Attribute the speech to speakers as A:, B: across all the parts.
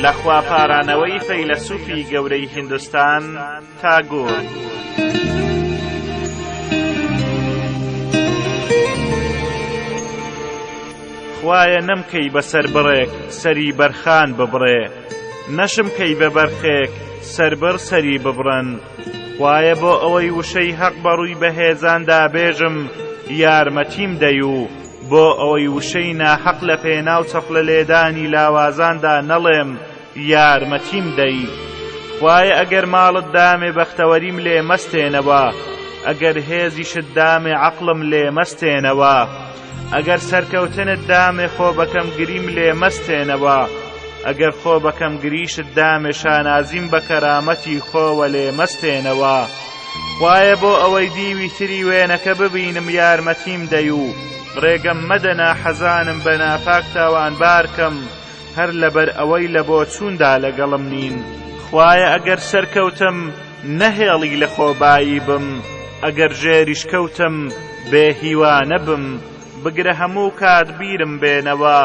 A: لە خوا پارانەوەی فەیلەسوفی گەورەی هندستان تاگۆر. خوایە نەمکەی بەسەر بڕێک سەری بەرخان ببڕێ نەشم کەی بە بەرخێک سربڕ سەری ببڕن خوایە بۆ ئەوەی وشەی هەق بە ڕووی بەهێزاندا بێژم یارمەتیم دەی و بۆ ئەوەی وشەی ناحەق لە پێناو چەپڵە لێدانی لاوازاندا نەڵێم یارمەتیم دەی خوایە ئەگەر ماڵت دامێ بەختەوەریم لێ مەستێنەوە ئەگەر هێزیشت دامێ عەقڵم لێ مەستێنەوە ئەگەر سەرکەوتنت دامێ خۆ بەکەم گریم لێ مەستێنەوە ئەگەر خۆ بەکەم گریشت دامێ شانازیم بە کەرامەتی خۆوە لێ مەستێنەوە خوایە بۆ ئەوەی دیوی تری وێنەکە ببینم یارمەتیم دەی و ڕێگەم مەدە ناحەزانم بە ناپاک تاوان بارکەم هەر لەبەر ئەوەی لە بۆ چووندا لەگەڵم نین خوایە ئەگەر سەرکەوتم نەهێڵی لە خۆبایی بم ئەگەر ژێریش کەوتم بێ هیوا نەبم بگرە هەموو کات بیرم بێنەوە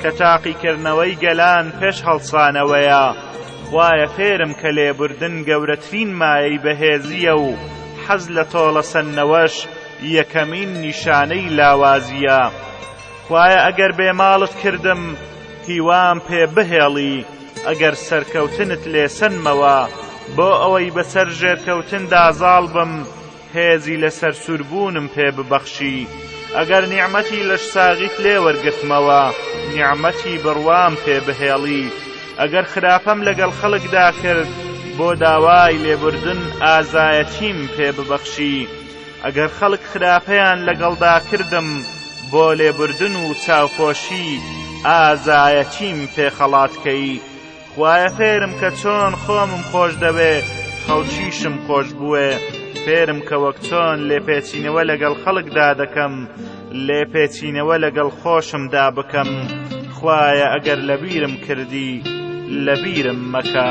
A: کە تاقیکردنەوەی گەلان پێش هەڵسانەوەیە خوایە فێرم کە لێبوردن گەورەترین مایەی بەهێزیە و حەز لە تۆڵە سەندنەوەش یەکەمین نیشانەی لاوازیە خوایە ئەگەر بێ ماڵت کردم هیوام پێ بهێڵی ئەگەر سەرکەوتنت لێسەنمەوە بۆ ئەوەی بەسەر ژێرکەوتندا زاڵ بم هێزی لە سەرسووربوونم پێ ببەخشی ئەگەر نیعممەتی لەش ساغیت لێ وەرگتمەوە نیعممەتی بڕوام پێ بهێڵی ئەگەر خراپەم لەگەڵ خەڵکدا کرد بۆ داوای لێبوردن ئازایەتیم پێ ببەخشی ئەگەر خەڵک خراپەیان لەگەڵدا کردم بۆ لێبوردن و چاوپۆشی ئازایەتیم پێ خەڵات کەی خوایە فێرم کە چۆن خۆمم خۆش دەوێ خەڵکیشم خۆش بوێ فێرم کە وەک چۆن لێپێچینەوە لەگەڵ خەڵکدا دەکەم لێپێچینەوە لەگەڵ خۆشمدا بکەم خوایە ئەگەر لەبیرم کردی لەبیرم مەکە.